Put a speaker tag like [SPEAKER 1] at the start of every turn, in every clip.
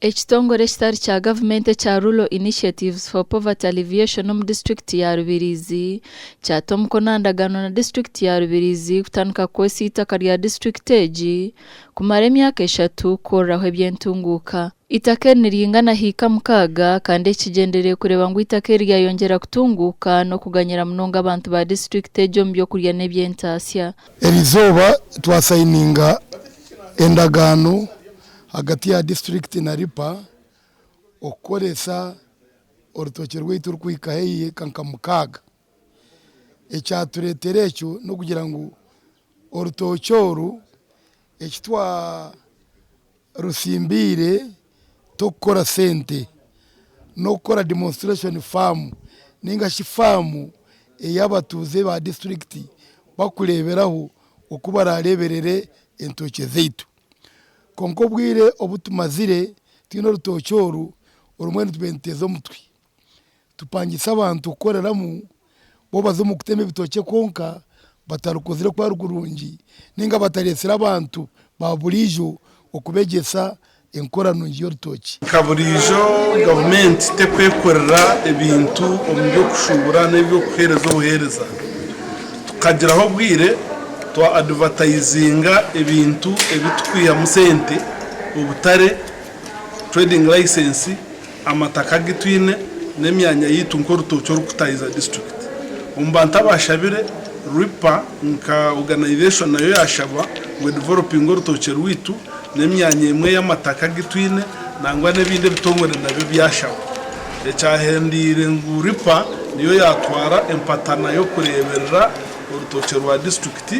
[SPEAKER 1] Ekitongore ekitari kya gavumenti ekya Rural Initiatives for Poverty Alleviation omu disiturikiti ya Rubirizi kyata omukono aha ndagaano na disiturikiti ya Rubirizi kutandika kukoresa eitaka rya disiturikiti egi kumara emyaka eshatu kukoreraho eby'entunguuka. Eitaka eri niriingana hiika mukaaga kandi eki kigyendereire kureeba ngu eitaka eri ryayongyera kutunguuka n'okuganyira munonga abantu ba disiturikiti egi omu by'okurya n'eby'entaasya. Eri izooba
[SPEAKER 2] twasayininga endagaano ahagati ya disiturikiti na RIPA okukoresa orutookye rwaitu orikuhika haihi eka nka mukaaga. Ekyatureetera ekyo n'okugira ngu orutookye oru eki twa Rutsimbaire tokukora sente n'okukora demonstration farm ninga shi farm ei abatuuze ba district bakureeberaho oku barareeberere entookye zaitu. Kwonka obwire obu tumazire twine orutookye oru, orumwe nitube nituteeza omutwe. Tupangisa abantu kukoreramu bo baze omu kutema ebitookye kwonka batarikozire ku ari kurungi ninga batareetsire abantu ba buriijo okubegyesa enkora nungi y'orutookye. Nka buriijo,
[SPEAKER 3] gavumenti tekwekorera ebintu omu by'okushuubura n'eby'okuheereza obuheereza. Tukagiraho obwire twa adivatayizinga ebintu ebi turikwihamu sente, obutare, trading license, Amataka agu twine n'emyanya yaitu nk'orutookye orukutaahiza disiturikiti. Omu bantu abaashabire, RWIPA nka oganaizeeshoni nayo yaashaba ngu edivolopinge orutookye rwaitu n'emyanya emwe y'amataka agu twine nangwa n'ebindi ebitongore nabyo byashaba. Ekyahendeire ngu RWIPA niyo yaatwara empatana y'okureeberera orutookye rwa disiturikiti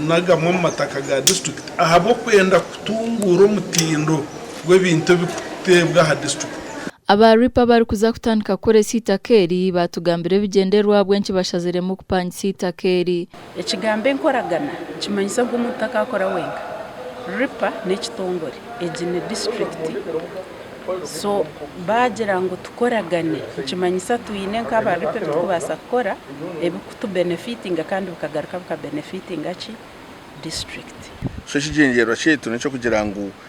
[SPEAKER 3] n'agamwe omu mataka ga disiturikiti ahabw'okwenda kutunguura omutindo gw'ebintu ebirikuteebwa aha disiturikiti. Aba RIPA
[SPEAKER 1] abarikuza kutandika kukoresa eitaka eri baatugambira ebigyendererwa ahabw'enki bashaziremu kupangisa eitaka eri. Ekigambo
[SPEAKER 4] enkoragana nikimanyisa ogu omuntu takakora wenka. RIPA n'ekitongore, egi ni disiturikiti. So baagira ngu tukoragane nikimanyisa twine nk'aba RIPA ebi turikubaasa kukora ebirikutubenefiitinga kandi bikagaruka bikabenefiitinga ki? Disiturikiti. So ekigyendererwa
[SPEAKER 5] kyaitu n'eky'okugira ngu.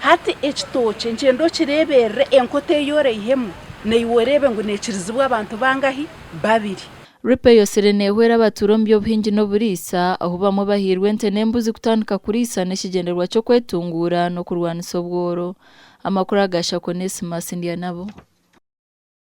[SPEAKER 4] Hati ekitookye nkyenda okireeberere enkoto ei oreihemu, naiwe oreebe ngu neekirizibwa abantu bangahi? Babiri. Rip eyosire
[SPEAKER 1] neehwera abatuura omu by'obuhingi n'oburiisa, ahu bamwe bahairwe ente n'embuzi kutandika kuriisa n'ekigyendererwa ky'okwetunguura n'okurwanisa obworo. Amakuru aga Shakwe Onesimus Ndyanabo.